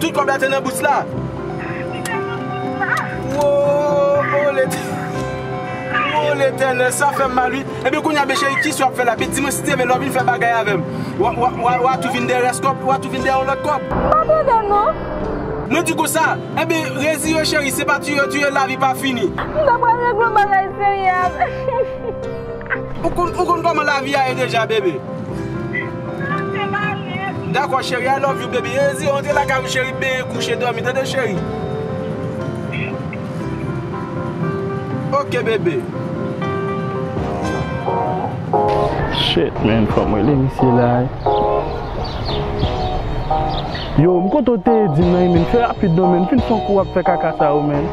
Tout kob la te nan bous la. Li te nan bous la. Woo letènèl sa fèm mal wi. Ebyen kounya bby cheri kisa wap fè la bby di mwen steven lè wap vin fè bagay avèm wa tou vin dè rès kob wa tou vin dè yon lòt kob. M pa tande non. Mwen di konsa ebyen reziyew cheri se pa tuyew tuyew lavi pa fini. M ta pral regle yon bagay serye avèl. Ou konn koman lavi a ye deja bebe. Dako cheri I love you baby Ezi antre lakay ou cheri benyen kouche domi tande cheri Ok bebe. Shit man fòm rele misye la wi. Yo m kote w te ye di m nan wi menn fè rapid non menn fin fon kou wap fè kaka sa yo menn.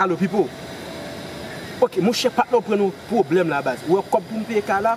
Alo pipo Ok monchè patnè ou pran yon pwoblèm la baz Ou wè kòb pou m peye kay la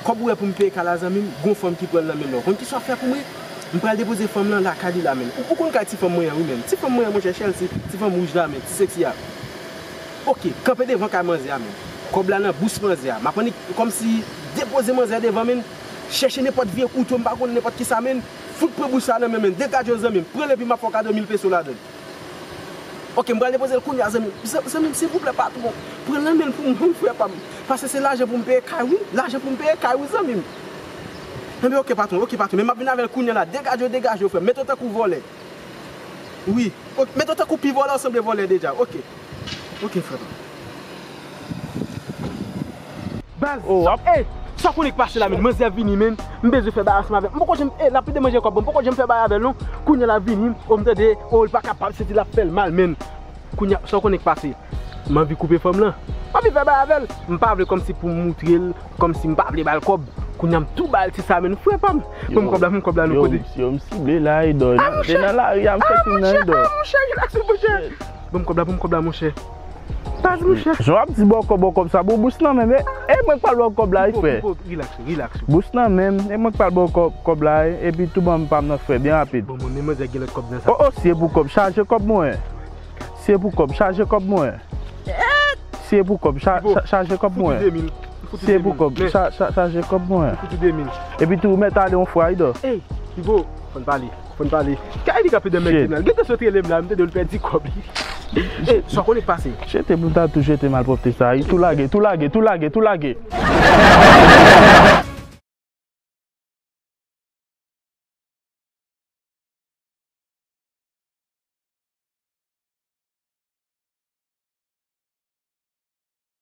Kòb ou wè pou m peye kay la zanmi m Gon fanm ki pran l nan menm la Ou konn kisa w fè pou mwen M pral depoze fanm lan lakay li la menm Ou konn kay ti fanm mwen an wi menm Ti fanm mwen an monchè Chelsea Ti fanm wouj la menm Ti seksi a Ok kanpe devan kay manzè a menm Kòb la nan bous manzè a M ap annik kòmsi Depoze manzè a devan menm Chèche nenpòt vye kouto m pa konn nenpòt kisa menm Fout pran bouch sa nan menm en degad yo zanmim pranl epi map fè w kado mil peso ladann ok m pral depozel kounya zanmim zanmim silvouplè patron pran nan menl pou mwen wi frè pam pase se lajan poum peye kay wi lajan poum peye kay wi zanmim enben ok patron ok patron men map vin avèl kounya la degad yo degaj yo frèm met yo tankou vòlè wi ok met yo tankou pi vòlè w sanble vòlè deja ok. Ok frè pam. Baz Oh wap Hey sa konnen k pase la menn manzè vini menn m bezwen fè bay ansanm avèl m poko janm hey lap pede manje kòbon m poko janm fè bay avèl non kounya lap vini oh m tande oh li pa kapab senti lap fèl mal menn kounya sa w konnen k pase m anvi koupe fanm lan m anvi fè bay avèl m pa vle kòmsi pou m moutrel kòmsi m pa vle bal kòb kounya m tou bal ti sa menn frè pam banm kòb la banm kòb la non kote Yo m sible la Edò nan lari a m fè kounye nan Edò. Banm kob la banm kob la monchè Paz monchè. Jan wap di bòkò bòkò sa bon bous nan menm e mwen k pral baw kòb la wi frè. Pipo pipo relax ou relax ou. Bous nan menm e mwen k pral baw kòb la wi epi tou banm pam nan frè byen rapid. Bon mwen menm mwen dirèk gen lòt kòb nan sa. Oh oh si e pou kòb chaje kòb mwen si e pou kòb chaje kòb mwen si e pou kòb chaje kòb mwen si e pou kòb chaje kòb mwen epi tou ou mèt ale yon fwa wi dò. Ey pipo fòn pale. Konn pale. Kay li kap de mèg tribinal. Gen tan sot rele m la m tande l pèdi kòb li. E sa w konnen k pase? Jete pou l ta tou jete malpwòpte sa a. Tou lage, tou lage, tou lage, tou lage.